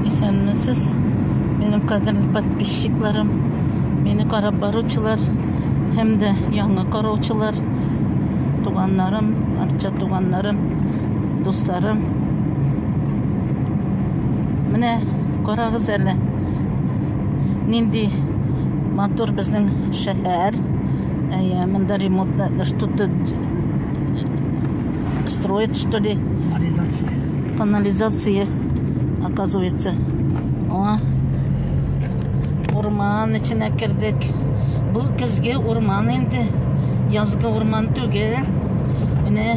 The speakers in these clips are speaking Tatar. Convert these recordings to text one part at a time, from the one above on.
Исәнмесез, минем кадерле подписчикларым, мине карап баручылар һәм дә яңа караучылар, туганнарым, арча туганнарым, дусларым. Менә карагыз әле. Нинди матур безнең шәһәр. Әйе, монда ремонтлар, что-то строят что ли канализация оказывается аңа урман эченә кердек бу көзге урман инде язгы урман түгел менә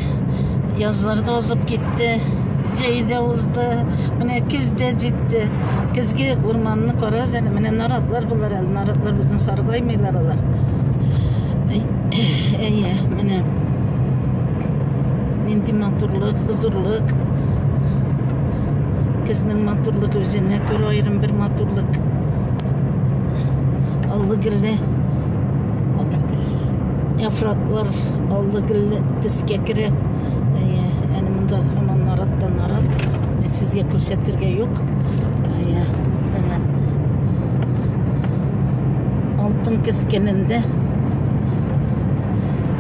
язлар да узып китте җәй дә узды менә көз дә җитте көзге урманны карагыз әле менә наратлар болар әле наратлар безне саргаймыйлар алар әйе менә күрсәттек. Нинди матурлык, хозурлык. Көзнең матурлык үзенә күрә аерым бер матурлык. Аллы гөлле яфраклар аллы гөлле төскә керә. Әне монда һаман нараттан нарат. Сезгә күрсәтергә юк. Алтын кескенендә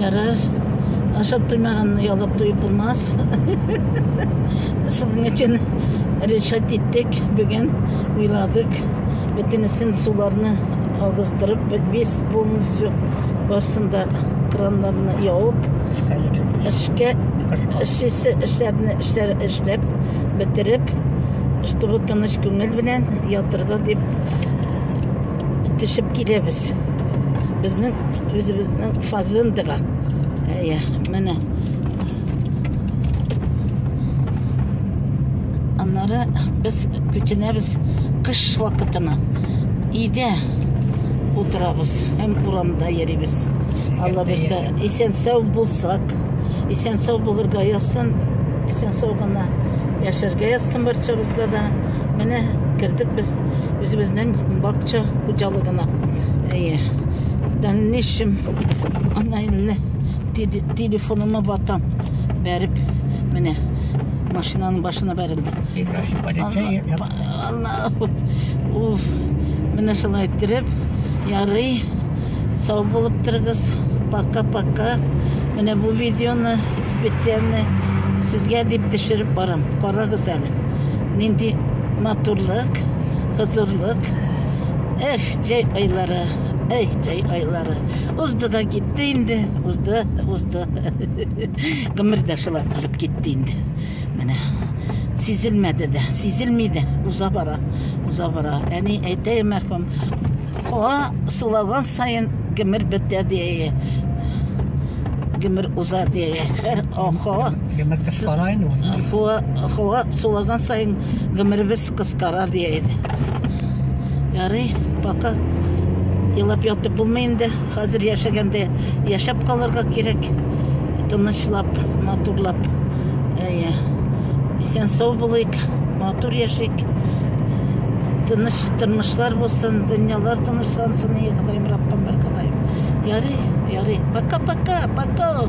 Ярар. Ашап туймаганны ялап туеп булмас. Шуның өчен решат иттек, бүген уйладык. Бөтенесен суларны агыздырып, без полностью барсында краннарны явып, эшкә эшчесе эшләрне эшләр эшләп бетереп, чтобы тыныч күңел белән ятырга дип итешеп киләбез. Безнең үзебезнең фазендага. Әйе, менә. Аннары без күченәбез кыш вакытына. Өйдә утырабыз һәм урамда йөрибез. Алла бездә исән сау булсак, исән сау булырга язсын, исән сау гына яшәргә язсын барчабызга да. Менә кердек без үзебезнең бакча хуҗалыгына. Әйе. Дәнешем ана инде телефоныма ватам бәреп менә машинаның башына бәрелде. Уф, менә шулай иттереп, ярый, сау булып торыгыз. Пока-пока. Менә бу видеоны специально сезгә дип төшереп барам. Карагыз әле. Нинди матурлык, хозурлык. Эх, җәй айлары, эй, җәй айлары. Узды да китте инде, узды, узды. Гомер дә шулай узып китте инде. Менә сизелмәде дә, сизелми дә, уза бара, уза бара. Әни әйтә, мәрхүм, Куа сулаган саен гомер бетә дияе, гомер уза дияе. Һәр куа гомер кыскара инде ул. Куа куа сулаган саен гомеребез кыскара дияе. Ярый, пока елап ятып булмый инде. Хәзер яшәгәндә яшәп калырга кирәк. Тынычлап, матурлап. Әйе. Исән сау булыйк, матур яшик. Тыныч Тормышлар булсын, дөньялар тынычлансын, и Ходаем, Раббым, бер Ходаем. Ярый, ярый. Пока-пока, пока.